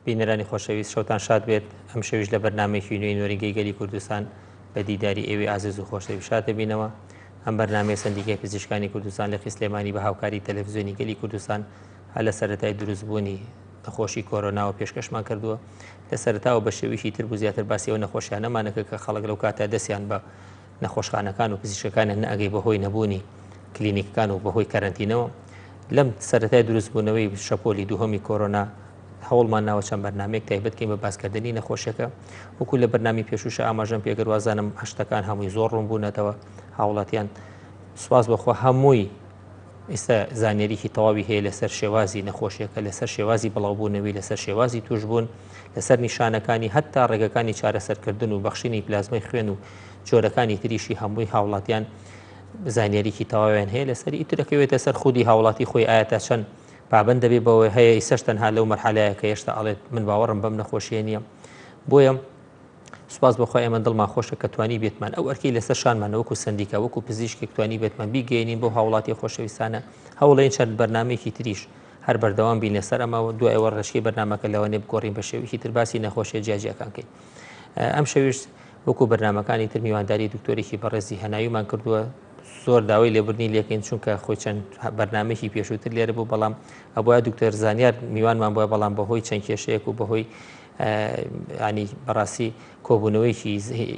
بینەرانی خۆشەویست شەوتان شاد بێت ئەم شەویش لە بەرنمێکی نوێی نۆریگەی گەلی کوردستان بە دیداری ئێوی ئازز و خۆشەوی شاتە بینەوە ئەم بەرنمەیە سندیکای پزیشکانی کوردستان لە قیسلێمانی بە هاوکاری تەلەڤزیۆنی گەلی کوردستان هەر لە سەرەتای دروست بوونی نەخۆشی کۆرۆناوە پێشکەشمان کردووە لە سەرتاوە بە شێویشی تر بوو زیاتر باسی ئەو نەخۆشیانەمانەکە کە خەڵک لەو کاتە دەستیان بە نەخۆشخانەکان و پزیشکەکانیان نەگەی بەهۆی نەبوونی کلینیکەکان و بەهۆی کەرنتینەوە لەم سەرەتای دروستبوونەوەی شەپۆلی دووهەمی کۆرۆنا هەوڵمان ناوە چەند بەرنمەیەک تایبەتکەین بە باسکردنی نەخۆشیەکە وەکو لە بەرنامی پێشوش ئاماژەم پێگەروازانم هەشتەکان هەمووی زۆر ڕوون بوونەتەوە هاوڵاتیان سوپاس بەخوا هەمووی ئێستا زانیاریی تەواوی هەیە لەسەر شێوازی نەخۆشیەکە، لەسەر شێوازی بڵاوبوونەوی، لەسەر شێوازی تووشبوون، لەسەر نیشانەکانی، هەتا ڕێگەکانی چارەسەرکردن و بەخشینی پلازمای خوێن و جۆرەکانی تریشی هەمووی هاوڵاتیان زانیاریی تەواویان هەیە لەسەر ئیترەکەوێتە سەر خودی هاوڵاتی خۆی ئایا تا چەند پابند دەبێ بەوەی هەیە ئیسەش تەنها لەو مەرحەلەیە کە هێشتا ئەڵێت من باوەڕم بەم نەخۆشیە نییە بۆیە سوپاس بۆ خوا ئێمە دڵمان خۆشە کە توانی بێتمان ئەو ئەرکی لەسەر شانمان وەکو سندیکا وەکو پزیشکێک توانی بێتمان بیگەێنین بۆ هاوڵاتی خۆشەویستانە هەوڵێن چەند بەرنمێکی تریش هەر بەردەوام بین لەسەر ئەمە و دوایەوە ڕێچکی بەرنمەکە لەوانێ بگۆڕین بە شێویی ترباسی نەخۆشیە جیاجیەکان کەین ئەم شەویشت وەکو بەرنمەکانی تر میوانداری دکتۆرێکی بەڕێزی هەناویمان کردووە زۆر داوای لێبرنی لەکەین چونکە خۆی چەند بەرنمێکی پێشووتر لێرە بوو بەڵام ئەبە دکتۆر زانیار میوانمان بۆە بەڵام بەهۆی چەند کێشەیەک و بەهۆی یانی بەڕاستی کۆبوونەوەیکی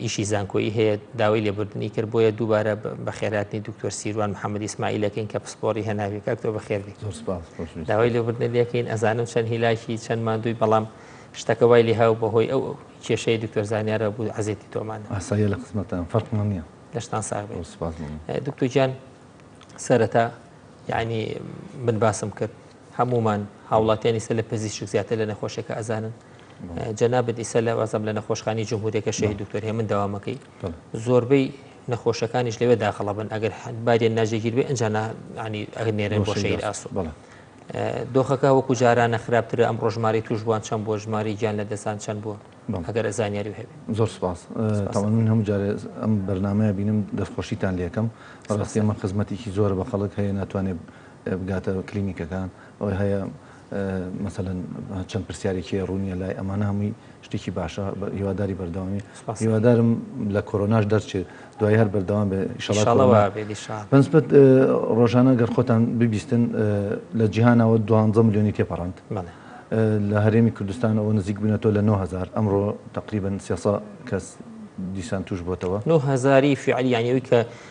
ئیشی زانکۆیی هەیە داوای لێبوردنی کرد بۆیە دووبارە بەخێراتنی دکتۆر سیروان محەممەد ئیسماعیلەکەین کە پسپۆری هەناویەکە تۆ بەخێربی داوای لێبوردن لەکەین ئەزانم چەند هیلاکی چەند مادووی بەڵام شتەکە وای لێ هاو بەهۆی ئەو کێشەی دکتۆر زانیارە بوو عزیێتی تۆمان ئاسایە لە قسمەتان فەرقمان نیە دەشتان ساغ دکتۆ گیان سەرەتا یعنی من باسم کرد هەموومان هاوڵاتیان ئیسە لە پزیشک زیاتر لە نەخۆشەکە ئەزانن جەنابت ئیسە لە وازم لە نەخۆشخانی جمهورەکە شەهی دکتۆر هێمن داوامەکەی زۆربەی نەخۆشەکانیش لەوێ داخڵەبن ئەگەر بارێن ناجێگیر بێ ئەنج ینی ئەگەر نێرن بۆ شەیر ئاسو بڵێ دۆخەکە وەکو جارانە خراپترە ئەم ڕۆژماری توشبووان چەند بۆ ژماری گیان لە دەسان چەند بووە ئەگەر زانیاری هەبێت زۆر سپاس تاوان من هەموو جارێ ئەم بەرنمەیە بینم دەستخۆشیتان لەکەم ڕاستێمە خزمەتێکی زۆر بە خەڵک هەیە ناتوانێت بگاتە کلینیکەکان ئەوەی هەیە مەسەلەن چەند پرسیارێکی هەیە ڕوونیە لای ئەمانە هەمووی شتێکی باشە هیواداری بەردەوامی سپاس. هیوادارم لە کۆرۆناش دەرچێت دوای هەر بەردەوام بێ ئیشەڵا ئینشاڵا کۆرۆنا وا بێت ئیشاڵ بەنسبەت ڕۆژانە گەر خۆتان ببیستن لە جیهانەوە دوانزە ملیۆنی تێپەڕاند بەڵێ لە هەرێمی کوردستانەوە نزیک بوونەتەوە لە نۆ هەزار ئەمڕۆ تەقریبەن سێ سەد کەس دیسان تووش بۆتەوە. نۆ هەزاری فیعلی یانی ئەوی کە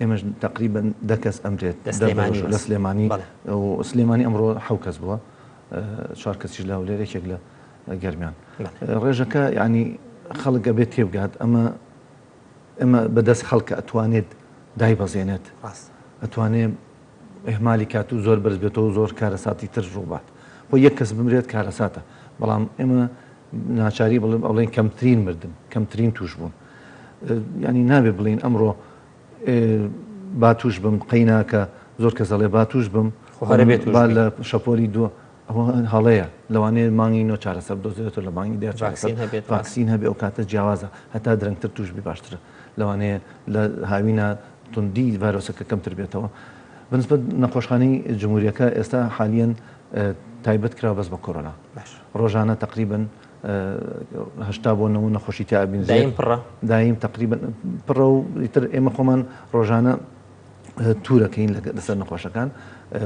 ئێمەش تەقریبەن دە کەس ئەمرێت لە سلێمانی لە سلێمانی و سلێمانی ئەمڕۆ حەو کەس بووە چوار کەسیش لە هەولێر یەکێک لە گەرمیان ڕێژەکە ینی خەڵک ئەبێت تێبگات ئەمە ئەمە بەدەست خەڵکە ئەتوانێت دایبەزێنێت ئەتوانێت ئەهمالی کات و زۆر بەرز بێتەوە زۆر کارەساتی تر ڕووبات بۆ یەک کەس بمرێت کارەساتە بەڵام ئێمە ناچاری بڵێن ئەڵێن کەمترین مردن کەمترین توش بوون یانی نابێ بڵێین ئەمڕۆ با تووش بم قەیناکە زۆر کەس دەڵێ با تووش بم خۆ هەرە بێت تووش با بی. لە شەپۆلی دووە ئەوە هەڵەیە لەوانەیە مانگی نۆ چارەسەر بدۆزرێتەوە لە مانگی دە چارەسەر ڤاکسین هەبێت، ڕاست. ڤاکسین هەبێ ئەو کاتە جیاوازە هەتا درەنگتر تووش بی باشترە لەوانەیە لە هاوینا توندی ڤایرۆسەکە کەمتر بێتەوە بەنسبەت نەخۆشخانەی جمهوریەکە ئێستا حالیەن تایبەت کراوە بەس بە کۆرۆنا باش. ڕۆژانە تەقریبەن هەشتا بۆ نەوە نەخۆشی تیا ئەبین زێر دایم پڕە؟ دایم تەقریبەن پڕە و ئیتر ئێمە خۆمان ڕۆژانە تورەکەین لەسەر نەخۆشەکان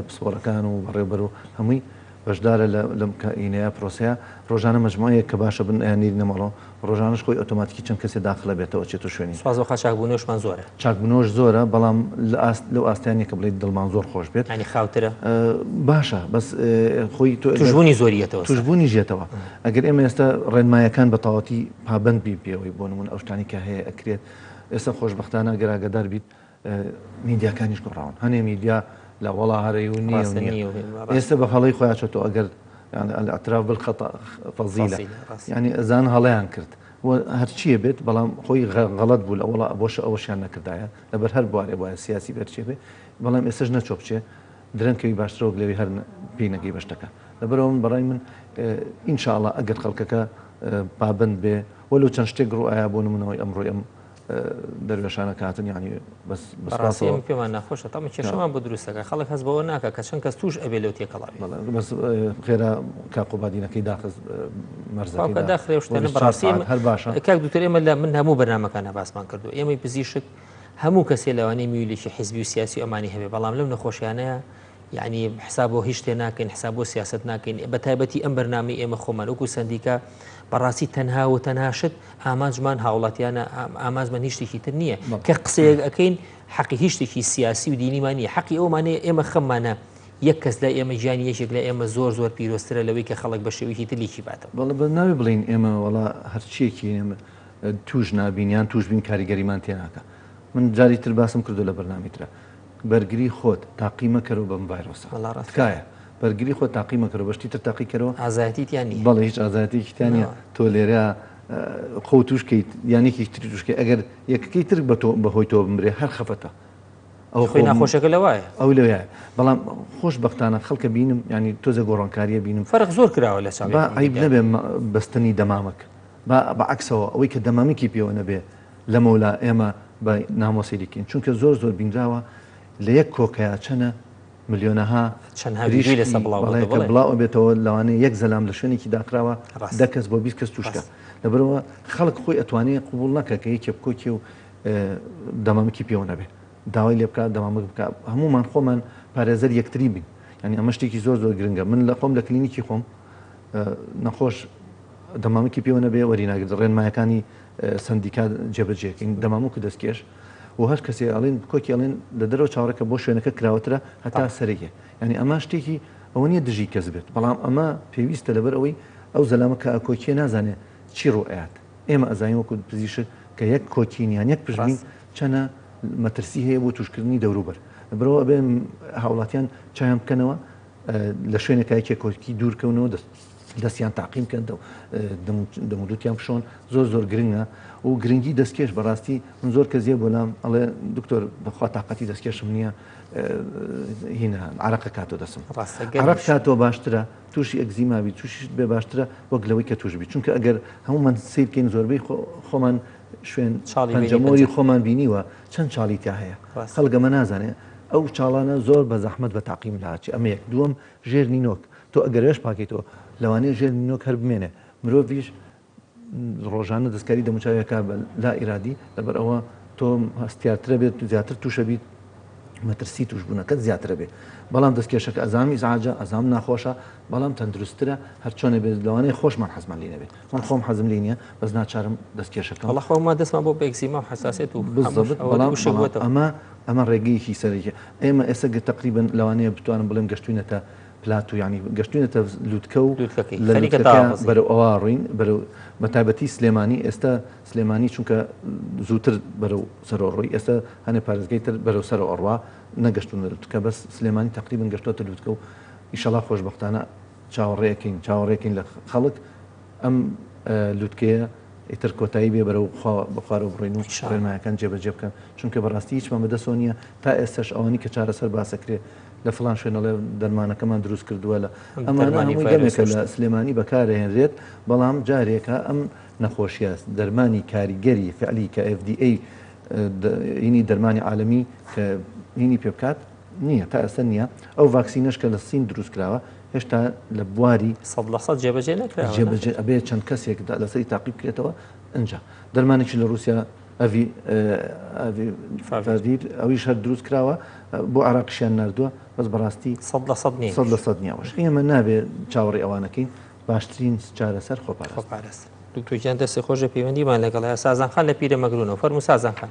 پسپۆرەکان و بەڕێوبەر و هەمووی بەشدارە لەم کەینەیە پرۆسەیە ڕۆژانە مجموعەیە کە باشە بن ئەیان نێری نەمەڵۆ ڕۆژانش خۆی ئۆتۆماتیکی چەند کەسێ داخلە بێتەوە چێت و شوێنی سوازۆخا چاکبوونەوەشمان زۆرە چاکبونەوەش زۆرە بەڵام لە ئاست لەو ئاستەیان نیە کە بڵێیت دڵمان زۆر خۆش بێت. یانی خاوترە؟ باشە بەس خۆی تۆ ئێستا. توشبونی زۆری یەتەوە سەر. توشبونیش یەتەوە. ئەگەر ئێمە ئێستا ڕێنمایەکان بە تەواوەتی پابەند بین پێوەی بۆ نمونە ئەو شتانەی کە هەیە ئەکرێت ئێستا خۆشبەختانە ئەگەر ئاگادار بیت میدیاکانیش گۆڕاون هەنێ میدیا لە وەڵا هەرە و نیە و نیە ئێستا بە هەڵەی خۆیان چۆتەوە ئەگەر یانی الاعتراف بالخطا فضیلە یانی ئەزان هەڵەیان کرد وە هەرچیە بێت بەڵام خۆی غە غەڵەت بوو لە وەڵا بۆشە ئەوەشیان نەکردایە لەبەر هەر بوارێ بوایە سیاسی بێ هەرچیە بێ بەڵام ئێستەش نەچۆ بچێ درەنگ کەوی باشترە وەک لەوی هەر پێی نەگەی بە شتەکە لەبەرئەوە من بەڕای من ان شاء اللە ئەگەر خەڵکەکە پابەند بێ وەلو چەند شتێک ڕوو ئایا بۆ نمونەوەی ئەمڕۆی ئەم دەروێشانە کاتن یانی بەس بەڕاستی پێمان ناخۆشە تەمە کێشەمان بۆ دروستەکە خەڵک هەست بەوە ناکە کە چەند کەس توش ئەبێ لەو تێکەڵا بەس خێرا کاقۆبادینەکەی داخز مەرزەکە داخرێ شتێنە بەڕاستی هەر باشە کاک دوتر ئێمە لە من هەموو بەرنمەکان هەباسمان کردو ئێمەی پزیشک هەموو کەسێ لەوانەیە میولیکی حزبی و سیاسی ئەمانی هەبێ بەڵام لەم نەخۆشیانەیە یەعنی حساب بۆ هیچ شتێ ناکەین حساب بۆ سیاسەت ناکەین بە تایبەتی ئەم بەرنامی ئێمە خۆمان وەکو سندیکا بەڕاستی تەنها و تەنها شت ئامانجمان هاوڵاتیانە ئامانجمان هیچتێکی تر نییە کە قسەیەک ئەەکەین حەقی هیچتێکی سیاسی و دینیمان نیە حەقی ئەومانەیە ئێمە خەممانە یەک کەس لە ئێمە گیانی یەکێک لە ئێمە زۆر زۆر پیرۆسترە لەوەی کە خەڵک بە شێویکی تلیکی باتە بەڵ بە ناوی بڵین ئێمە وڵا هەرچیەکی ئێمە توش نابینیان توش بین کاریگەریمان تێناکە من جاری تر باسم کردو لە بەرنامی ترە بەرگری خۆت تاقی مەکەرەوە بەم ڤایرۆسە وەڵا ڕاست کاکە. تکایە بەرگری خۆت تاقی مەکەرەوە بە شتی تر تاقی کەرەوە. ئازایەتی تیا نییە. بەڵێ هیچ ئازایەتیەکی تیا نییە نەوە. تۆ لێرە خۆو توش کەیت یان یەکێکی تری توش کەی ئەگەر یەکەکەی تر بە تۆ بە هۆی تۆ بمرێ هەر خەفەتە ئەوە خوێ خۆ ناخۆشەکە لەوایە. ئەو لەوێ بەڵام خۆش بەختانە خەڵکە بینم یانی تۆزێ گۆڕانکاریە بینم. فەرق زۆر کراوە لە ساڵی با عەیب نەبێ بەستنی دەمامک با بە عەکسەوە ئەوەی کە دەمامکی پێوە نەبێ. لەمەولا ئێمە بە نامۆسی دیکەین چونکە زۆر زۆر بینراوە لە یەک کۆکەیا چەنە ملیۆنەها پریشکی بەڵێ کە بڵاو ئەبێتەوە لەوانەیە یەک زەلام لە شوێنێکی داخراوە دە کەس بۆ بیست کەس توشکە لەبەرەوە خەڵک خۆی ئەتوانێ قوبوڵ نەکە کە یەکێ بکۆکێ و دەمامکی پێوە نەبێ داوای لێ بکە دەمامک بکە هەمومان خۆمان پارێزەر یەکتری بین ینی ئەمە شتێکی زۆر زۆر گرنگە من لە خۆم لە کلینیکی خۆم نەخۆش دەمامکی پێوە نەبێ وەریناگرێت ڕێنمایەکانی سەندیکا جێبەجێکەین دەمامک دەستکێش و هەر کەسێ ئەڵێن کۆکی ئەڵێن لە دەرەوە چاوەڕێکە بۆ شوێنەکە کراوەترە هەتا سەرێکێ یانی ئەما شتێکی ئەوە نیە دژی کەس بێت بەڵام ئەمە پێویستە لەبەر ئەوەی ئەو زەلامە کە ئەکۆکیە نازانێ چی ڕوو ئەیات ئێمە ئەزانین وەکو پزیشک کە یەک کۆکین یان یەک پشبین چەنە مەترسی هەیە بۆ توشکردنی دەوروبەر برەوە ئەبێ هاوڵاتیان چاویان بکەنەوە لە شوێنێکایکێ کۆکی دوورکەونەوە دەست دەستیان تاقیم کەن دەو دەمودوتیان بشۆن زۆر زۆر گرنگە و گرنگی دەستکێش بەڕاستی من زۆر کە زیێ بۆلام ئەڵێ دکتۆر بەخوا تااقەتی دەستکێشم نییە هینە عراقە کاتۆ دەسم ڕاستگەڕ کاتۆ باشترە تووشی ئەگزیماوی تووشیت بێ باشترە وەک لەوەی کە توشبی چونکە ئەگەر هەمومان سیرکەین زۆربەی خۆمان شوێن چاڵیجەمۆری خۆمان بینیوە چەند چاڵی تا هەیە خەڵگەمە نازانێت ئەو چاڵانە زۆر بە زەحمت بە تاقیم لاچی ئەمەیەک دووەم ژێر نینۆک تۆ ئەگەر لەش پاکەیتەوە لەوانەیە ژێر نینۆک هەر بمێنێ مرۆڤیش ڕۆژانە دەستکاری دەموچاوی ئەکا بە لا ئیرادی لەبەر ئەوە تۆ هەستیارترە بێت زیاتر تووشە بیت مەترسی توشبوونەکەت زیاترە بێ بەڵام دەستکێشەکە ئەزام ئیزعاجە ئەزام ناخۆشە بەڵام تەندروستترە هەر چۆنێ بێت لەوانەیە خۆشمان حەزمان لێ نەبێت من خۆم حەزم لێ نییە بەس ناچارم دەستکێشەکەم وەڵا خۆمان دەستمان بۆ بێکزیما و حەساسێت و بالضبط بەڵام وشە بووەتەوە. ئەمە ئەمە ڕێگەیەکی سەرەکیە. ئێمە ئێستا گە تەقریبەن لەوانەیە بتوانم بڵێم گەشتوینەتە پلاتو یانی گەشتوینەتە لوتکە و لوتکەکەی لە خەریکە لوتکەکە داڕزی. بەرەو ئەوە ڕوین بەرەو بە تایبەتی سلێمانی ئێستا سلێمانی چونکە زوتر بەرەو سەرەوە ڕۆی ئێستا هەنێ پارێزگای تر بەرەو سەرەوە ئەڕوا نەگەشتونە لوتکە بەس سلێمانی تەقریبەن گەشتوەتە لوتکە و ئیشەڵا خۆشبەختانە چاوەڕێ ئەکەین چاوەڕێ ئەکەین لە خەڵک ئەم لوتکەیە ئیتر کۆتایی بێ بەرەو خوا بەخوارەوە بڕۆین و ڕێنمایەکان جێبەجێ بکەن چونکە بەڕاستی هیچمان بەدەسەوە نییە تا ئێستاش ئەوانی کە چارەسەر باسەکرێ لە فڵان شوێن ئەڵێ دەرمانەکەمان دروست کردووە لە ئەمانە هەمووی گەمێکە لە سلێمانی بەکارەهێنرێت بەڵام جارێکە ئەم نەخۆشیە دەرمانی کاریگەری فعلی کە FDA هینی دەرمانی عالەمی کە هینی پێ بکات نییە، تا ئێستا نییە، ئەو ڤاکسینەش کە لە سین دروست کراوە هێشتا لە بواری. سەد لە سەد جێبەجێ نەکراوە. جێبەجێ ئەبێ چەند کەسێک لەسەری تاقی بکرێتەوە ئنجا دەرمانێکی لە رووسیا ئەڤی ئەڤی فاڤیر ئەویش هەر دروست کراوە بۆ عێراقیشیان ناردووە بەس بەڕاستی سەد لە سەد نییە. سەد لە سەد نییە ئەوەش ئێمە نابێ چاوەڕێی ئەوانەکەین باشترین چارەسەر خۆپارێزی. خۆپارێز دکتۆر گیان دەستی خۆش بێ پەیوەندیمان لەگەڵە سازان خان لە پیرەمەگرونەوە فەرموو سازان خان.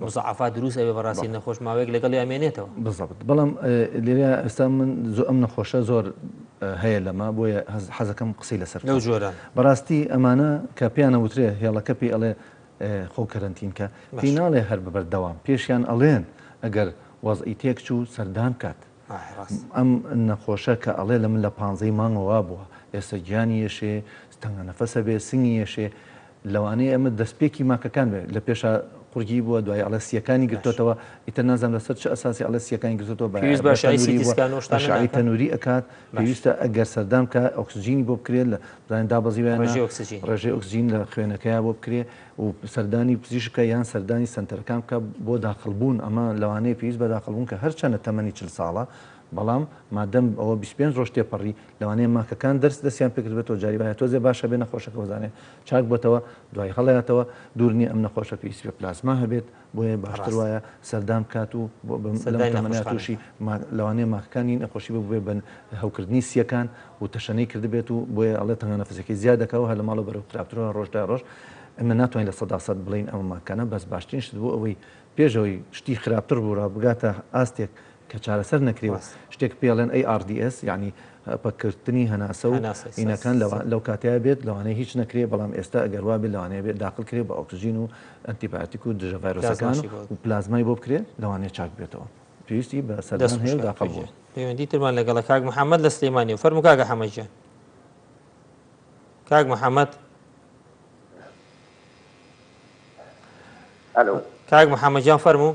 مزاعەفات دروست ئەبێ بەڕاستی نەخۆش ماوەیەک لەگەڵی ئەمێنێتەوە. بزەبت بەڵام لێرە ئێستا من زۆ ئەم نەخۆشە زۆر هەیە لەمە بۆیە حەزەکەم قسەی لەسەر لەو جۆرە بەڕاستی ئەمانە کە پێیانە وترێ هێڵەکە پێی ئەڵێ خۆ کەرەنتین کە پێی ناڵێ هەر بەبەر دەوام پێشیان ئەڵێن ئەگەر وەزئی تێک چوو سەردان کات ئەم نەخۆشە کە ئەڵێ لە من لە پانزەی مانگەوە بووە ئێستا گیانی یەشێ تەنگە نەفەسە بێ سنگی یەشێ لەوانەیە ئەمە دەستپێکی ماکەکان بێت، لە پێشا قورگی بووە، دوایی ئەڵێ سییەکانی گرتۆتەوە، ئیتر نازانم لەسەر چ ئەساسی ئەڵێ سییەکانی گرتۆتەوە، بە پێویست بە بە ئەشعەی تەنووری سیتی بووە، سکان و ئەو شتانە ئەشعەی ناکەن؟ تەنووری ئەکات، باش. پێویستە ئەگەر سەردان بکا ئۆکسجینی بۆ بکرێ، لە بزانین دابەزیوە یا نا، ڕێژەی ئۆکسجین. ڕێژەی ئۆکسجین لە خوێنەکەیا بۆ بکرێ و سەردانی پزیشک بکا یان سەردانی سەنتەرەکان بکا بۆ داخڵبوون، ئەمە لەوانەیە پێویست بە داخڵبوون کە هەرچەنە تەمەنی چل ساڵە، بەڵام مادەم ئەوە بیست و پێنج ڕۆژ تێپەڕی لەوانەیە ماکەکان دەرس دەستیان پێکردبێتەوە جاری وایە تۆزێ باشە بێ نەخۆشەکە وەزانێ چاک بۆتەوە دوای هەڵەیاتەوە دوور نیە ئەم نەخۆشە پێی سپێ پلاسما هەبێت بۆیە باشتر ڕاستە وایە سەردان بکات و بۆ بم لەم سەردانی تەمەنە توشی نەخۆشخانەکە ماک لەوانەیە ماکەکانی نەخۆشی ببوبێ بە هەوکردنی سیەکان و تەشەنەی کردبێت و بۆیە ئەڵێ تەنگە نەفەسەکەی زیاد دەکا و هەر لە ماڵەوە بەرەو خراپترو هەر ڕۆژ دوای ڕۆژ ئێمە ناتوانین لە سەدا سەد بڵێین ئەمە ماکەکانە بەس باشترین شت بۆ ئەوەی پێش ئەوەی شتی خراپتر ڕووڕا بگاتە ئاستێک کە چارەسەر نەکرێ و شتێک پێڵێن ARDS یانی پەککردنی هەناسە و ئینەکان لەو کاتەیە بێت لەوانەیە هیچ نەکرێ بەڵام ئێستا ئەگەر وابێت لەوانەیە بێت داخل کرێ بە ئۆکسجین و ئەنتیبایۆتیک و دژە ڤایرۆسەکان و پلازمای بۆ بکرێ لەوانەیە چاک بێتەوە پێویستی بە سەردان هەیە و داخل بوون. پەیوەندی ترمان لەگەڵە کاک محەممەد لە سلێمانیە فەرموو کاکە حەمە گیان کاک محەممەد کاک محەممەد گیان فەرموو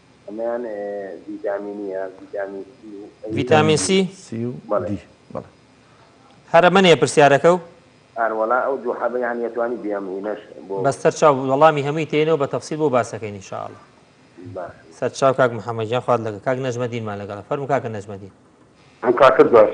ئەمەیان ڤیتامینیە ڤیتامین سی و ڤیتامین سی سی و دی بەڵێ هەرە منێ پرسیارەکە و ئەروەڵا ئەو دوو حەبەیان یەتوانی بێم هینەش بۆ بەستەر چاو وەڵامی هەمووی تێنەوە بە تەفسیل بۆ باسەکەی نیشاءڵە سەر چاو کاک محەممەد جان خوارد لەگە کاک نەجمە دینمان لەگەڵە فەرم کاکە نەجمە دین ئەم کاکە دواش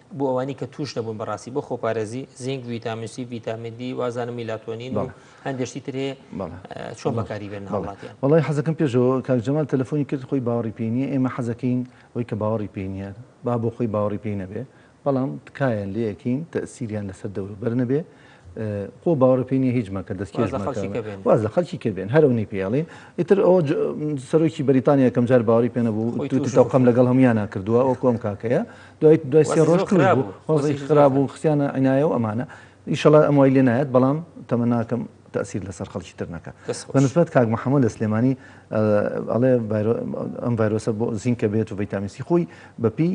بۆ ئەوانی کە توش نەبوون بەڕاستی بۆ خۆپارێزی زینگ ویتامسی ویتامین دی وازانە میلاتۆنین و هەندێشتی ترێ چۆن بەکاری بێن هەڵاتیان وڵی حەزەکەم پێشەوە کاک جەمال تەلەفۆنی کرد خۆی باوەڕی پێ نیە ئێمە حەزەکەین ئەوی کە باوەڕی پێ نیە با بۆ خۆی باوەڕی پێی نەبێ بەڵام تکایە لەکەین تەسیریان لەسەر دەوروبەر نەبێ خۆ باوەڕ پێ نیە هیچ مەکە دەست کێش مەکە واز لە خەڵکی کە بێن هەرو نی پێڵین ئیتر ئەو سەرۆکی بەریتانیا یەکەم جار باوەڕی پێ نەبوو توتی تەوقەم لەگەڵ هەمویانە کردووە ئەو کۆم کاکەیە دوای دوای سێ ڕۆژ توش بوو وەزعی خراب و خسیانە عنایە و ئەمانە ئیشەڵا ئەم وای لێ نایەت بەڵام تەمە ناکەم تەسیر لەسەر خەڵکی تر نەکە بە نسبەت کاک محەممەد لە سلێمانی ئەڵێ ئەم ڤایرۆسە بۆ زینکە بێت و ڤیتامین سی خۆی بەپی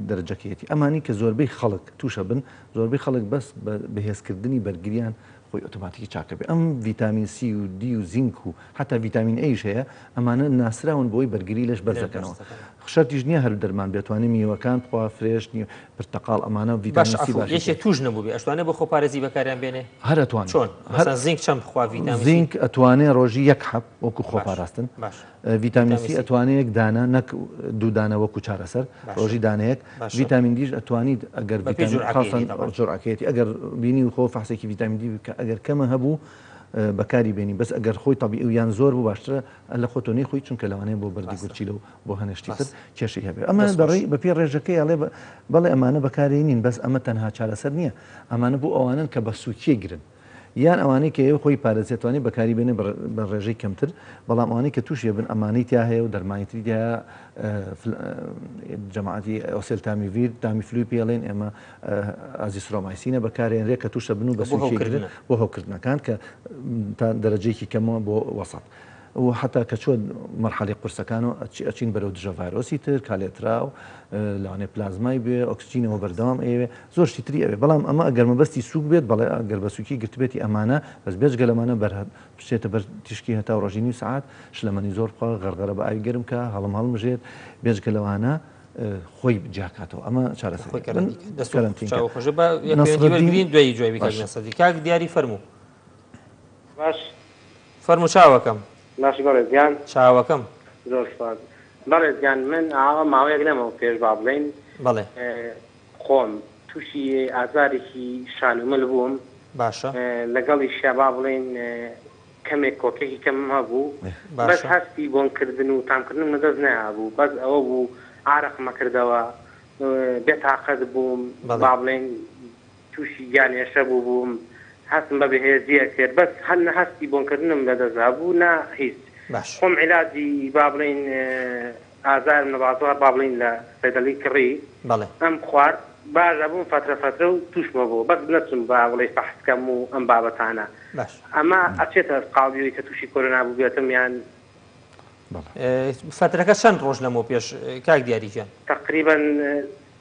دەرەجەکەیەتی ئەمانی کە زۆربەی خەڵک توشە بن زۆربەی خەڵک بەس بە بەهێزکردنی بەرگریان خۆی ئۆتۆماتیکی چاک ئەبێ ئەم ڤیتامین سی و دی و زینک و حەتا ڤیتامین ئەیش هەیە ئەمانە ناسراون بۆی بەرگری لەش بەرز دەکەنەوە شەرتیش نیە هەر دەرمان بێ توانێ میوەکان بخوا فرێش نی پرتەقاڵ ئەمانە ڤیتامین سی باشە. باشە عەفو یەکێ توش نەبوبێ ئەشتوانێ بۆ خۆپارێزی بەکاریان بێنێ؟ هەر ئەتوانێ چۆن؟ هەر مەسەڵەن زینک چەند بخوا ڤیتامین سی؟ زینک ئەتوانێ ڕۆژی یەک حەب وەکو خۆپاراستن. باشە. ڤیتامین سی ئەتوانێ یەک دانە نەک دوو دانە وەکو چارەسەر ڕۆژی دانەیەک ڤیتامین دیش ئەتوانیت ئەگەر جورعەکەیەتی ئەگەر بینی خۆ فەحسێکی ڤیتامین دی بکە ئەگەر کەمە هەبوو بەکاری بێنی بەس ئەگەر خۆی تەبیعی و یان زۆر بوو باشترە ئەلە خۆتۆ نەیخۆی چونکە لەوانەیە بۆ بەردی گورچیلە و بۆ هەنێ شتی تر کێشەی هەبێ ئەمە دەڕێی بەپێی ڕێژەکەی ئەڵێ بەڵێ ئەمانە بەکارێنین بەس ئەمە تەنها چارەسەر نییە ئەمانە بۆ ئەوانەن کە بە سووکیەگرن یان ئەوانەی کە ئێوە خۆی پارێز ئەتوانێت بەکاری بێنێت بە ڕێژەی کەمتر بەڵام ئەوانەی کە تووشی ئەبن ئەمانەی تیا هەیە و دەرمانی تری تیا جەماعەتی ئۆسێل تامیڤیر تامی فلوی پێ ئەڵێن ئێمە ئازیسرۆمایسینە بەکارێنرێت کە تووشت ئەبن و بە سووی بۆ هەوکردنەکان کە تا دەرەجەیەکی کەمەوە بۆ وەسەت و حەتا کە چووە مەرحەلەی قورسەکانەوە ئەچین بەرەو دژە ڤایرۆسی تر کالێتراو لەوانەیە پلازمای بێ ئۆکسجینەوە بەردەوام ئەیەوێ زۆر شتی تری ئەوێ بەڵام ئەمە ئەگەر مەبەستی سووک بێت بەڵێ ئەگەر بە سووکی گرتبێتی ئەمانە بەس بێجگە لەمانە بەر بچێتە بەر تیشکی هەتاو ڕۆژی نیو سەعات شلەمەنی زۆر بخوا غەرغەرە بە ئاوی گەرم کا هەڵم هەڵمژێت بێجگە لەوانە خۆی جیاکاتەوە ئەمە چارەسەر دەستکەرەنتین دوای جوێبی کاک دیاری فەرموو باش فەرموو چاوەکەم. باشی بەڕێز گیان. چاوەکەم. زۆر سوپاس بەڕێز گیان من ئاوا ماوەیەک لەمەو پێش با بڵێین بەڵێ. خۆم توشی ئازارێکی شان و مل بووم باشە. لەگەڵیشیا با بڵێین کەمێک کۆکێکی کەمم هەبوو باشە. بەس هەستی بۆن کردن و تام کردنم لە دەست نەیابوو بەس ئەوە بوو عارەقم ئەکردەوە بێ تاقەت بووم بەڵێ. با بڵێین توشی گیان ئێشە بوو بووم هەستم بە بەهێزی ئەکرد بەس هەر نە هەستی بۆنکردنم لە دەست دابوو نە هیچ باش. خۆم عیلاجی با بڵێین ئازارم نەبازوو هەر با بڵێین لە سەیدەڵی کڕی بەڵێ. ئەم خوارد باش ئەبووم فەترە فەترە و توشمە بۆ بەس نەچووم با بڵێی فەحس کەم و ئەم بابەتانە باش. ئەمە ئەچێتە قاڵبیەوەی کە توشی کۆرۆنا بووبێتم یان. بەڵێ. فەترەکە چەند ڕۆژ لەمەو پێش کاک دیاری گیان؟ تەقریبەن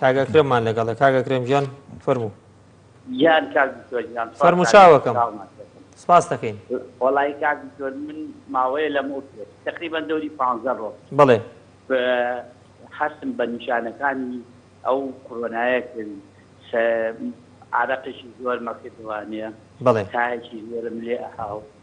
کاک ئەکرەممان لەگەڵە کاک ئەکرەم گیان فەرموو گیان کاک دکتۆر گیان فەرموو چاوەکەم ساڵمان کردن. سپاس دەکەین وەڵایی کاک دکتۆر من ماوەیە لەم ئەو پێش تقریبا دەوری پانزە ڕۆژ بڵێ ب- هەستم بە نیشانەکانی ئەو کۆرۆنایە کرد س- عارەقێکی زۆرمە کردوانە بڵێ تایەکی زۆرم لێ ئەهاو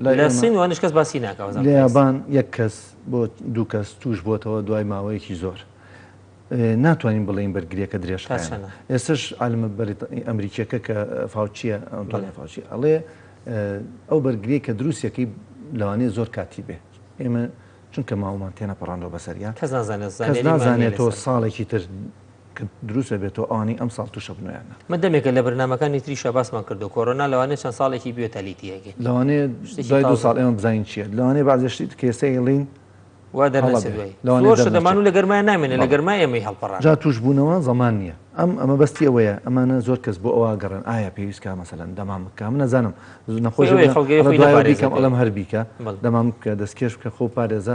لە سین وانش کەس باسی ناکە لە یابان یەک کەس بۆ دوو کەس توش بۆتەوە دوای ماوەیەکی زۆر ناتوانین بڵین بەرگریەکە درێژ ئێستش عالمە ئەمریکیەکە کە فاوچیە ئەنتۆنی فاوچی ئەڵێ ئەو بەرگری کە دروستەکەی لەوانەیە زۆر کاتی بێ ئێمە چونکە ماوەمان تێنە پەڕاندەوە بەسەریان کەس نازانێت نازانێتەوە ساڵێکی تر کە دروست ئەبێتەوە ئەوانەی ئەمساڵ تووشە بنەوەیانە. مە دەمێکە لە برنامەکانی تریشا باسمان کردووە کۆرۆنا لەوانەیە چەند ساڵێکی بوێت تا لیتی ئەگەین. لەوانەیە شتێکی دوای دوو تازە. ساڵ ئێمە بزانین چییە، لەوانەیە بەعزێ شتی دیکە ئێستا ئێڵین وا هەڵە دەرنەچێت بێ. دوایی لەوانەیە زۆر شت دەرنەچێ. ئەمانوو لە گەرمای نامێنێ لە بەڵێ. گەرمای ئێمەی هەڵپەڕاند. جا تووشبوونەوە زەمان نییە. ئەم ئەمە بەستی ئەوەیە ئەمانە زۆر کەس بۆ ئەوە ئەگەڕێن ئایا پێویست کا مەسەلەن دەمام بکا من ئەزانم زو خۆی نەخۆش ئەوەیە بڵێ خەڵک گەوێ ئەڵێ خۆی دوایەوە نەپارێزێت بیکەم ئەڵێم هەر بیکە دەمام بکە دەستکێش بکە خۆ پارێزە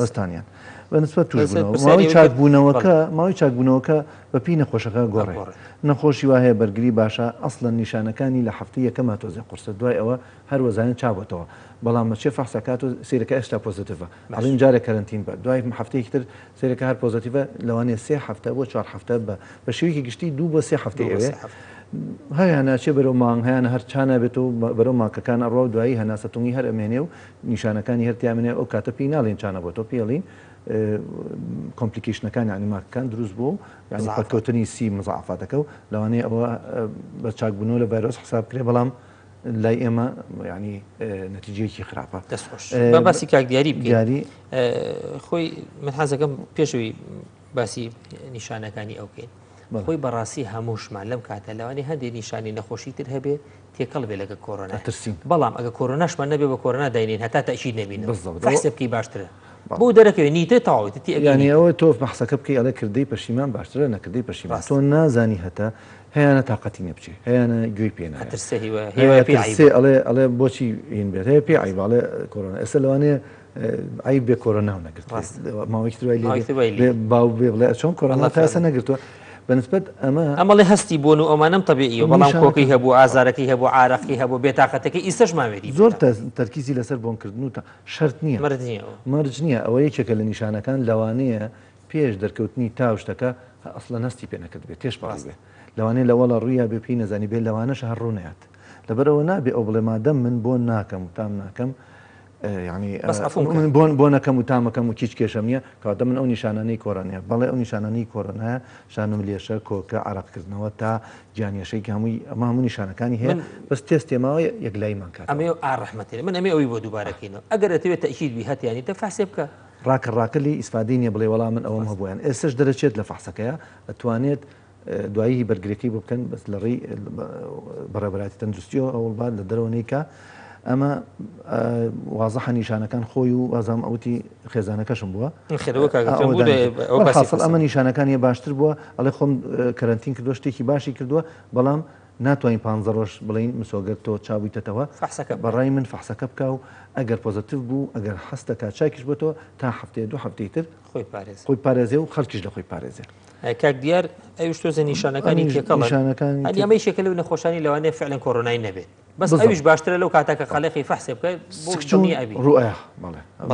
لەستانیان بەنسبەت توی چاکبوونەوەکە ماوەی چاکبوونەوەکە بەپی نەخۆشەکە گۆڕێ نەخۆشی وهەیە بەرگری باشە ئەسلە نیشانەکانی لە هەفتی یەکەما تۆزی قرسە دوای ئەوە هەروەزانین چابەتەوە بەڵام مەچێ فەحسەکات و سیرەکە ئێستا پۆزتیڤە ئەڵین جارە کەرنتین بە دوای هەفتەیەکی تر سیرەکە هەر پۆزتیڤە لەوانێ سێ هەفتە بۆ چوار هەفتە بە بە شێوەیەکی گشتی دوو بۆ سێ هەفتەی ئەوێ هەیانە چێ بەرەو مانگ هەیانە هەرچانە بێت و بەرەو ماکەکان ئەڕوا و دوایی هەناسەتونی هەر ئەمێنێ و نیشانەکانی هەر تیایان هەیە ئەو کاتە پێی ناڵێین چانە بۆتۆ پێی ئەڵێین کۆمپلیکەیشنەکان یانی ماکەکان دروست بووە و یانی پەککەوتنی سی مزەعەفاتەکە و لەوانەیە ئەوە بە چاک بوونەوە لە ڤایرۆس حساب کرێ بەڵام لای ئێمە یانی نەتیجەیەکی خراپە دەست خۆش بە باسی کاک دیاری دیاری خۆی من حەزەکەم پێشوی باسی نیشانەکانی ئەو بکەین خۆی بەڕاستی هەمووشمان لەم کاتە لەوانی هەندێک نیشانی نەخۆشی تر هەبێ تێکەڵ بێ لەگە کۆرۆنا ترسین بەڵام ئەگە کۆرۆناشمان نەبێ بە کۆرۆنا داینین هەتا تەشید نەبین بەسە بکەی باشترە بۆ دەرەکەوێ نیتە تەواوەتی ئەگەنیەوە تۆ بەحسەکە بکەی ئەڵێ کردەی پەشیمان باشترە نەکردەی پەشیمان تۆ نازانی هەتا هەیەە تااقەتی نەبچێ هەیەە گوێی پێێنەترسێ ئەڵێ ئەڵێ بۆچی هین بێت هەیە پێ عیباڵێ کۆرۆنا ئێستا لەوانەیە عەیب بێ کۆرۆناو نەگرت ڕاست ماوەیەکی تر وای لێ ماوەیەکی تر وای لێ بێ باو بێ بڵێ چۆن کۆرۆنا الله تا ئێستا فعلا. نەگرتووە بەنسبەت ئەمە ئەمەڵێ هەستی بۆن و ئەمانەم تەبیعیە بەڵام نیشانەکان. کۆکەی هەبوو ئازارەکەی هەبوو عارەقی هەبوو بێتاقەتەکەی ئیسەش ماوێری زۆر بێتاقەت. تەز- تەرکیزی لەسەر بۆنکردن و تا شەرت نییە مرد نییە ئەوە. مەرج نییە ئەوە یەکێکە لە نیشانەکان لەوانەیە پێش دەرکەوتنی تا و شتەکە هە- ئەسڵەن هەستی پێ نەکرد بێ تێش پەڕی ڕاست. بێ لەوانەیە لە وەڵا ڕوویا بێ پێی نەزانی بێ لەوانەشە هەر ڕوو نەیات لەبەرئەوە نابێ ئەو بڵێ مادەم من بۆن ناکەم و تام ناکەم یانی بەس عەفوم کە. من بۆن بۆنەکەم و تامەکەم و کیچ کێشەم نیە کەواتە من ئەو نیشانانەی کۆرۆنایە بەڵێ ئەو نیشانانەی کۆرۆنایە شانم لێشە کۆکە عەرەق کردنەوە تا گیانەشێک هەمووی ئەمە هەموو نیشانەکانی هەیە من بەس تێست تێماوە یەک لای من کات ئەمێ ئا ڕەحمەتی من ئەمێ ئەوی بۆ دووبارەکەینەوە ئەگەر ئەتەوێت تەئکید بی هەتیان نیتە فەحسێ بکە ڕاکە ڕاکە لێی ئیسفادەی نیە بڵێ وەڵا من ئەوەم هەبوویان ئێسش دەرەچێت لە فەحسەکەیە ئەتوانێت دوایی بەرگریەکەی بۆ بکەن بەس لە ڕێی بەڕێبەراتی تەندروستیەوە ئەوڵ بات لە دەرەوە نیکە ئەمە وازەحە نیشانەکان خۆی و وازام ئەوتی خێزانەکەشم بووە ئەمە نیشانەکان یە باشتر بووە ئەڵێ خۆم کەرنتین کردو شتێکی باشی کردووە بەڵام ناتوانین پ ڕۆژ بڵین مسۆگەر تۆ چابوویتەوە بەڕای من فحسەکە بکە و ئەگەر پۆزتیف بوو ئەگەر حستەکە چاکیش بۆ تۆ تا هەفتەیە دو هەفتەی تر خۆی پارێز خۆی پارێزێ و خەرکیش لە خۆی پارێزێ کاک دیار ئەوش تۆزە نیشانەکانی تێکەڵەکان ئەمەی شەکە لە نەخۆشانی لەوانێ فعلەن کۆرۆنای نەبێت بەس ئەوش باشترە لەو کاتەکە خەلقی فەحسێ بکەیت بچونی ئەبی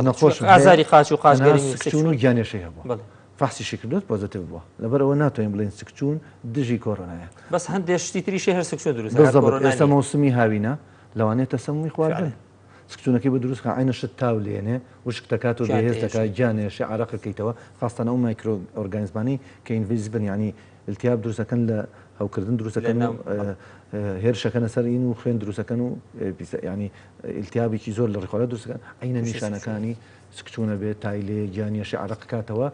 نەخۆش ئازاری قاچ و قاچگەریون و گیانێشی هەبوو فحسی شکردوت پۆزتیو بووە لەبەر ئەوە ناتوانین بڵین سکچوون دژی کۆرۆنایە بەس هەندێشتی تریشی هەر سکچون دروست ئێستا مەوسمی هاوینە لەوانێت تەسەمی خواردن سکچونەکەی بۆ دروست بکە عەینە شت تاو لێنێ وشک دەکات و بێهێز دەکات گیان ئێشێ عەرەق ئەکەیتەوە خاستەن ئەو مایکرۆ ئۆرگانیزمانەی کە ئینڤیز بن یانی التیاب دروست ئەکەن لە هەوکردن دروست ئەکەن و هێرش ئەکەنە سەر ئین و خوێن دروست ئەکەن و یانی التیابێکی زۆر لە ڕیخۆرە دروست ئەکەن عەینە نیشانەکانی سکچونە بێت تای لێ گیان ئێشێ عەرەق کاتەوە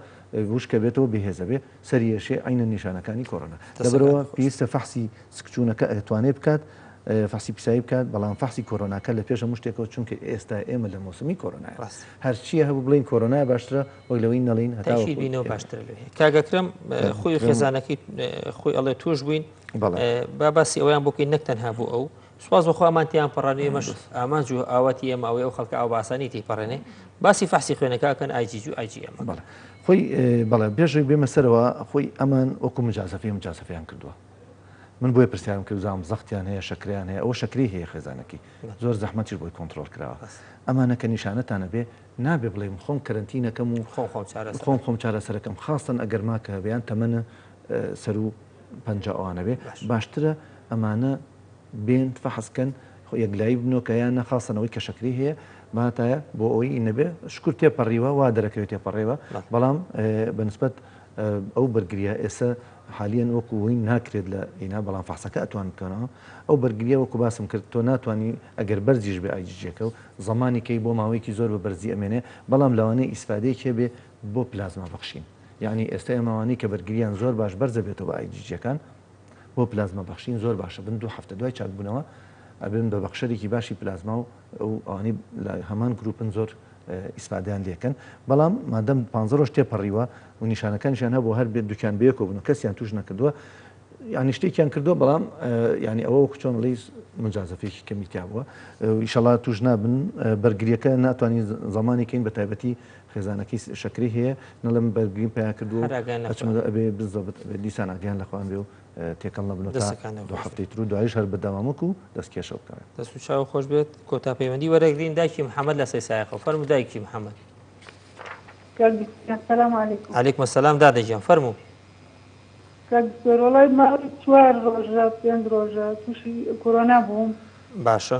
وشکە بێتەوە بێهێزە بێ سەریەشێ عەینەن نیشانەکانی کۆرۆنا لەبەرئەوە پێویستە فەحسی سکچوونەکە ئەتوانێت بکات فەحسی پیسایی بکات بەڵام فەحسی کۆرۆناکە لە پێش هەموو شتێکەوە چونکە ئێستا ئێمە لە مۆسمی کۆرۆنایە ڕاست هەرچیە هەبوو بڵین کۆرۆنای باشترە وەک لەوەی نەڵین هەتاشی بینەوە باشترە لێ کاگەکرم خۆی خێزانەکەی خۆی ئەڵێ توش بووین بەڵێ با باسی ئەویان بۆکەی نەک تەنها بۆ ئەو سوپاس بۆ خوامان تیان پەڕانی ئێمەش ئامانج و ئاواتی ئێمە ئەوەی ئەو خەڵکە ئەو باسانی تی پەڕێنێ باسی فەحسی خوێنەکەکەن ئایجیج و ئایجی ئەمە بەڵێ خۆی بەڵێ بێژێک بێمە سەرەوە خۆی ئەمان وەکو مجازەفی و مجازەفیان کردووە من بۆیە پرسیارم کرد زانم زەختیان هەیە شکریان هەیە ئەو شکری هەیە خێزانەکەی زۆر زەحمەتیش بۆی کۆنتترۆل کراوە ئەمانەکە نیشانەتانە بێ نابێ بڵێم خۆم کەرنتینەکەم و خۆ خۆم خۆم چارەسەرەکەم خاستن ئەگەر ماکە هەبیان تەمەە سەر و پەنج ئەوانەبێ باشترە ئەمانە بێن فەحس کەن یەکلایی بنۆ کە یان نا خاستە نەوەی کە شەکری هەیە باتایە بۆ ئەوی ئی نەبێ شکر تێ پەڕیوە وا دەرەکەوێت تێ پەڕێوە بەڵام بە نسبەت ئەو بەرگریە ئێسە حالیەن وەکو وین ناکرێت لە ئینا بەڵام فەحسەکە ئەتوان بکەنەوە ئەو بەرگریە وەکو باسم کرد تۆ ناتوانی ئەگەر بەرزیش بێ ئای جیجیەکە و زەمانی کەی بۆ ماوەیەکی زۆر بە بەرزی ئەمێنێ بەڵام لەوانەیە ئیسفادەیەک هەبێ بۆ پلازما بەخشین یانی ئێستا ئێمە ئەوانەی کە بەرگریان زۆر باش بەرزە بێتەوە بە ئای جیجیەکان بۆ پلازما بەخشین زۆر باشە بن دوو هەفتە دوای چاکبوونەوە ئەبن بە بەخشەرێکی باشی پلازما و ئەو ئەوانەی لە هەمان گروپن زۆر ئیسفادەیان لێکەن بەڵام مادەم پ ڕۆژ تێپەڕیوە و نیشانەکانیشیان هەبوو هەر بێت دوکیان بەیەکەوە بن و کەسیان توش نەکردووە ینی شتێکیان کردو بەڵام ینی ئەوە وەکو چۆن ڵیز مجازەفێکی کەمیتیا بووە ئیشەڵا توش نابن بەرگریەکە ناتوانین زمانێکین بە تایبەتی خێزانەکەی شەکرەی هەیە نەڵێم بەرگریم پیا کردوە و ئەچمە دەر ئەبێ بزۆبت ئەبێ دیسان ئاگایان لە خۆیان بێ و تێکەڵ نەبنەوە تا دەسەکانت دوو خۆش بێت هەفتەی تر و دوایش هەر بەردەوام وەکو دەست کێشە بکەوێ. دەست و چاوو خۆش بێت کۆتا پەیوەندی وەرەگرین دایکی محمد لە سەی سایەخەو فەرموو دایکی محمد. کاک دکتۆر سلام علیکم. علیکم سلام دادە گیان فەرموو. کاک دکتۆر وەڵای ماوەی چوار ڕۆژە پێنج ڕۆژە توشی کۆرۆنا بووم. باشە.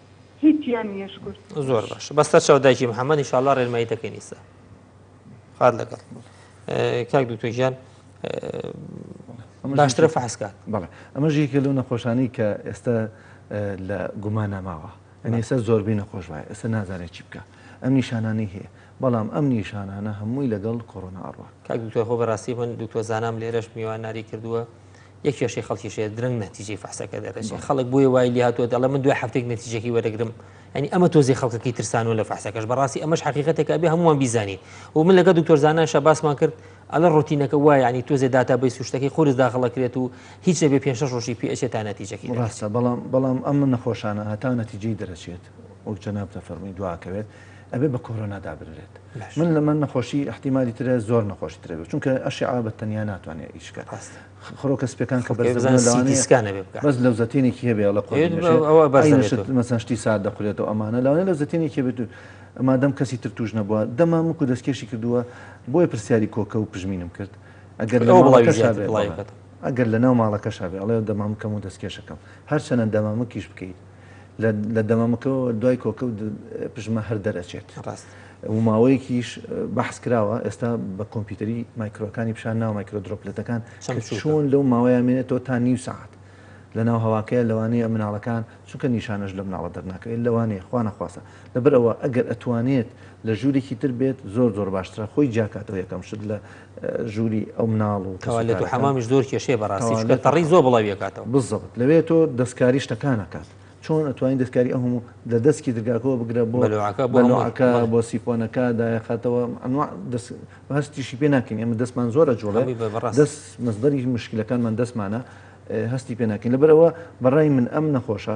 هیچیان نییە شکور زۆر باش بە سەر چاو دایکی محەممەد انشاءالله ڕێنمایی دەکەین ئیستا خات لەگەڵ کاک دوتۆژیان باشترە فحسکات بەڵێ ئەمە ژێکی لەو نەخۆشانی کە ئێستا لە گومان ناماوە ئەنی ئێستا زۆربەی نەخۆش وایە ئێستا نازانێت چی بکە ئەم نیشانانی هەیە بەڵام ئەم نیشانانە هەمووی لەگەڵ کۆرۆنا ئەڕوە کاک دوکتۆر خۆ بەڕاستی من دوکتۆر زانام لێرەش میوان ناری کردووە یە کێشەی خەڵکی شێ درەنگ نەتیجەی فەحسەکە دەرەچێت خەڵک بۆی وای لێ هاتووە دەڵێ من دوای هەفتێک نەتیجەکەی وەرەگرم ئەنی ئەمە تۆزی خەڵکەکەی ترسانەوە لە فەحسەکەش بەڕاستی ئەمەش حقیقەتێکە بێ هەمووان بیزانین و من لەگە دکتۆر زانان شەباسمان کرد ئەلە ڕوتینەکە وای ینی تۆزێ داتا بەی سوشتەکەی قورس داخڵەکرێت و هیچ نەبێ پێ شەش ڕۆژی پێچێت تا نەتیجەکەی ڕاستە بەڵام بەڵام ئەم نەخۆشانە هەتا نەتیجەی دەرەچێت وەک جەناب دەفەرمی دواکەوێت ئەبێ بە کۆرۆنا دابنرێت من لە من نەخۆشی ئەحتیممالی ترە زۆر نەخۆشی ترەێت چونکە ئەشعا بە تەنیا ناتوانێت ئیشکە خڕۆکە سپەکان کە بەزانسکانە بەس لە زەتینێکی هەبێ لە قۆشتی سات دەخورێتەوە ئەمانە لەوانێ لە زەتینێکی بێت مادەم کەسی تر توش نەبووە دەمام وکو دەستکێشی کردووە بۆیە پرسیاری کۆکە و پژمینم کرد ئەگەر لە ئەگەر لە ناو ماڵەکەشا بێ ئەڵێ دەمامکەم و دەستکێشەکەم هەرچەنە دەمامکیش بکەیت لە دەمەمکەوە دوای کۆکە و پژمە هەر دەرئەچێت و ماوەیەکیش بەحس کراوە ئێستا بە کۆمپیوتەری مایکرۆکانی پیشان ناو مایکرۆ درۆپلەتەکان چۆن لەو ماوەیە مێنێتەوە تا نیو ساعت لە ناو هەواکەیە لەوانەیە مناڵەکان چونکە نیشانەش لە مناڵە دەرناکەوێت لەوانەیە خوا نەخواستە لەبەرەوە ئەگەر ئەتوانێت لە ژوورێکی تر بێت زۆر زۆر باشترە خۆی جیاکاتەوە یەکەم شت لە ژووری ئەو مناڵ و تەوالێت و حەمامیش زۆر کێشەیە بەڕاستی چونکە تەڕی زۆر بڵاوی ئەکاتەوە بزەبت لەوێ تۆ دەستکاری شتەکان ئەکات چۆن ئەتوانین دەستکاری ئەو هەموو لە دەستکی درگاکەوە بگرە بۆ بەلۆعەکە بۆ هەموو بەلۆعەکە بەڵێ بۆ سیفۆنەکە دایەخاتەوە ئەنواع دەست هەستیشی پێ ناکەین ئێمە دەستمان زۆر ئەجوڵێ هەمووی بە بەڕاست دەست مەسدەری مشکلەکانمان دەستمانە ئێ هەستی پێ ناکەین لەبەرئەوە بەڕای من ئەم نەخۆشە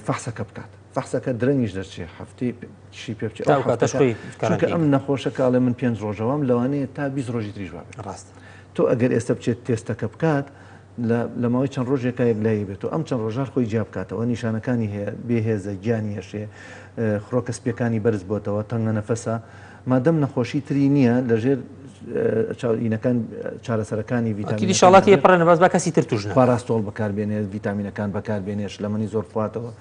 فەحسەکە بکات فەحسەکە درەنگیش دەرچێ هەفتەی شی پێ بچێت چونکە ئەم نەخۆشە کاڵێ من پێنج ڕۆژەوەم لەوانەیە تا بیست ڕۆژی تریژ بابێت ڕاست تۆ ئەگەر ئێستا بچێت تێستەکە بکات لە ماوەی چەند ڕۆژێکا یەک لای بێت و ئەم چەند ڕۆژار خۆی جیا بکاتەوە نیشانەکانی هەیە بێهێزە گیانی هێشێ خڕۆکە سپیەکانی بەرز بۆتەوە تەنگە نەفەسە مادەم نەخۆشی تری نیە لەژێر چاو ینەکان چارەسەرەکانی ڤیتامین شڵاتی پڕە نەباز بە کەسی تر توژن پاراستۆڵ بەکاربێنێت ڤیتامینەکان بەکاربێنێت شلەمەنی زۆر بخواتەوە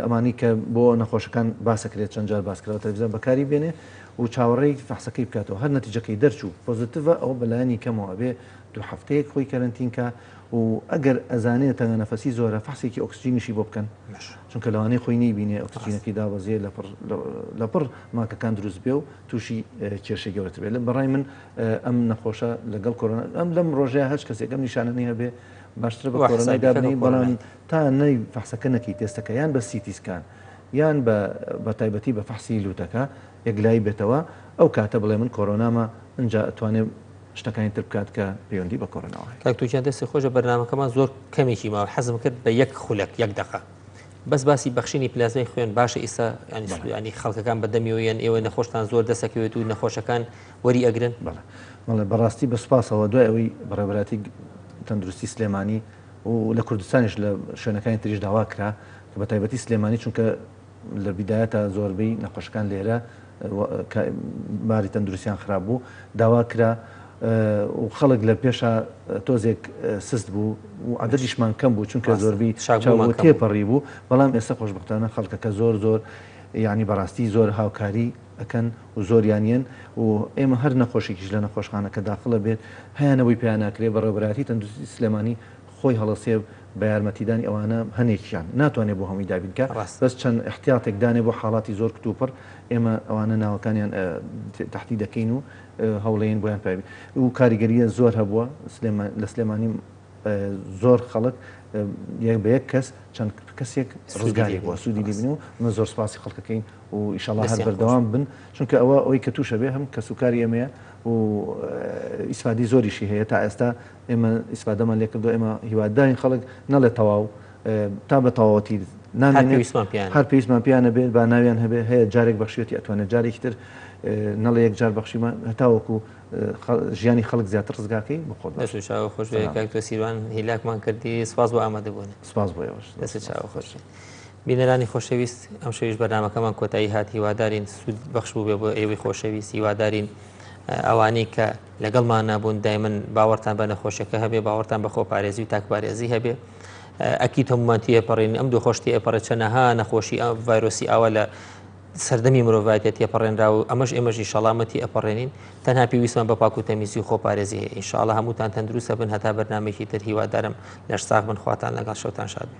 ئەمانی کە بۆ نەخۆشەکان باسەکرێت چەند جار باسکراوە تەلویزیۆن بەکاری بێنێ و چاوەڕێی فەحسەکەی بکاتەوە هەر نەتیجەکەی دەرچوو پۆزیتیڤە ئەو بەلایانی کەمەوە ئەبێ دوو هەفتەیەک خۆی کەرەنتینکە و ئەگەر ئەزانێت تەنگە نەفەسی زۆرە فەحسێکی ئۆکسجینیشی بۆ بکەن چونکە لەوانەیە خۆی نەیبینێ ئۆکسجینەکەی دابەزێ لەپڕ لەپڕ ماکەکان دروست بێ و تووشی کێشەی گەورەتر بێت لە بەڕای من ئەم نەخۆشە لەگەڵ کۆرۆنا ئەم لەم ڕۆژەیە هەچ کەسێک ئەم نیشانەنی هەبێ باشترە بە کۆرۆنای دابنی بەڵام تا نەی فەحسەکە نەکەی تێستەکە یان بە سیتی سکان یان بە تایبەتی بە فەحسی لووتەکە یەکلایی بێتەوە ئەو کاتە بڵێ من کۆرۆنامە ئەجا ئەتوانێ شتەکانی تر بکات کە پەیوەندی بە کۆرۆناوە هەیە. کاک توکیان دەستی خۆش بەرنامەکەمان زۆر کەمێکی ماوە حەزم کرد بە یەک خولەک یەک دەقە بەس باسی بەخشینی پلازمای خوێن باشە ئیسا ینی خەڵکەکان بەدەمیەوەیان ئێوە نەخۆشتان زۆر دەسەکەوێت و نەخۆشەکان وەری ئەگرن بەڵێ بەڕاستی بە سپاسەوە دوای ئەوەی بەڕێبراتی تەندروستی سلێمانی و لە کوردستانیش لە شوێنەکانی تریش داوا کرا کە بە تایبەتی سلێمانی چونکە لە بیدایەتا زۆربەی نەخۆشەکان لێرە کە باری تەندروستیان خراپ بوو داوا کرا و خەڵک لە پێشا تۆزێک سست بوو و عددیشمان کەم بوو چونکە زۆربی چاوەوە تێپەڕی بوو بەڵام ئێستا خۆشببختانە خەڵکەکە زۆر زۆر یعنی بەڕاستی زۆر هاوکاری ئەەکەن و زۆریانیان و ئێمە هەر نەخۆشیکیش لە نەخۆشخانەکە داخڵە بێت هەیانەوەی پێیانناکرێ بەڕێبراتی تەندروستی سلێمانی خۆی هەڵەسێ و بە یارمەتیدانی ئەوانە هەنێکیان ناتوانێ بۆ هەمووی دابین کا ڕاستە. بەس چەند ئیحتیاتێک دانێ بۆ حاڵاتی زۆر کتوپڕ ئێمە ئەوانە ناوەکانیان تەحدید دەکەین و هەوڵێین بۆیان پای بین و کاریگەریە زۆر هەبووە سلێمان لە سلێمانی زۆر خەڵک یەک بە یەک کەس چەند کەسێک ڕزگاری بووە سوودی لێ بینی و من زۆر سوپاسی خەڵکەکەین و ئیشەڵا هەر بەردەوام بن چونکە ئەوە ئەوەی کە تووشە بێ هەم کەسوکاری ئێمەیە و ئیسفادەی زۆریشی هەیە تا ئێستا ئێمە ئیسفادەمان لێ کردووە، ئێمە هیوادارین خەڵک نەڵێت تەواو تا بە تەواوەتی نامێنێت، هەر پێویستمان پێیان نەبێت با ناویان هەبێت، هەیە جارێک بەخشیوەتی ئەتوانێت جارێکی تر نەڵێ یەک جار بەخشیمە هەتاوەکو ژیانی خەڵک زیاتر ڕزگارکەین بۆ خۆت بەش چاوە خۆش کاکتۆ سیروان هیلاکمان کردی سپاس بۆ ئامادە بوون سپاس بۆ ئێوەش دەست چاوە خۆش بینەرانی خۆشەویست ئەم شەویش بەرنمەکەمان کۆتایی هات هیوادارین سوود بەخش بوو بێ بۆ ئێوەی خۆشەویست هیوادارین ئەوانەی کە لەگەڵمان نابوون دایمن باوەڕتان بە نەخۆشەکە هەبێ باوەڕتان بە خۆپارێزی و تاکپارێزی هەبێ ئەکی تەمومان تێپەڕین ئەم دوو خۆشتی ئەپەڕێت چەنەها نەخۆشی ئەم ڤایرۆسی ئاوا لە سەردەمی مرۆڤایەتە تێپەڕێنرا و ئەمەش ئێمەژی شەڵامەتی ئەپەڕێنین تەنها پێویستمان بە پاک و تەمیزی و خۆپارێزی هەیە ئینشاءڵە هەمووتان تەندروستە بن هەتا بەرنمێکی تر هیوادارم لەش ساغ بن خواتان لەگەڵ شەوتان شاد بێ.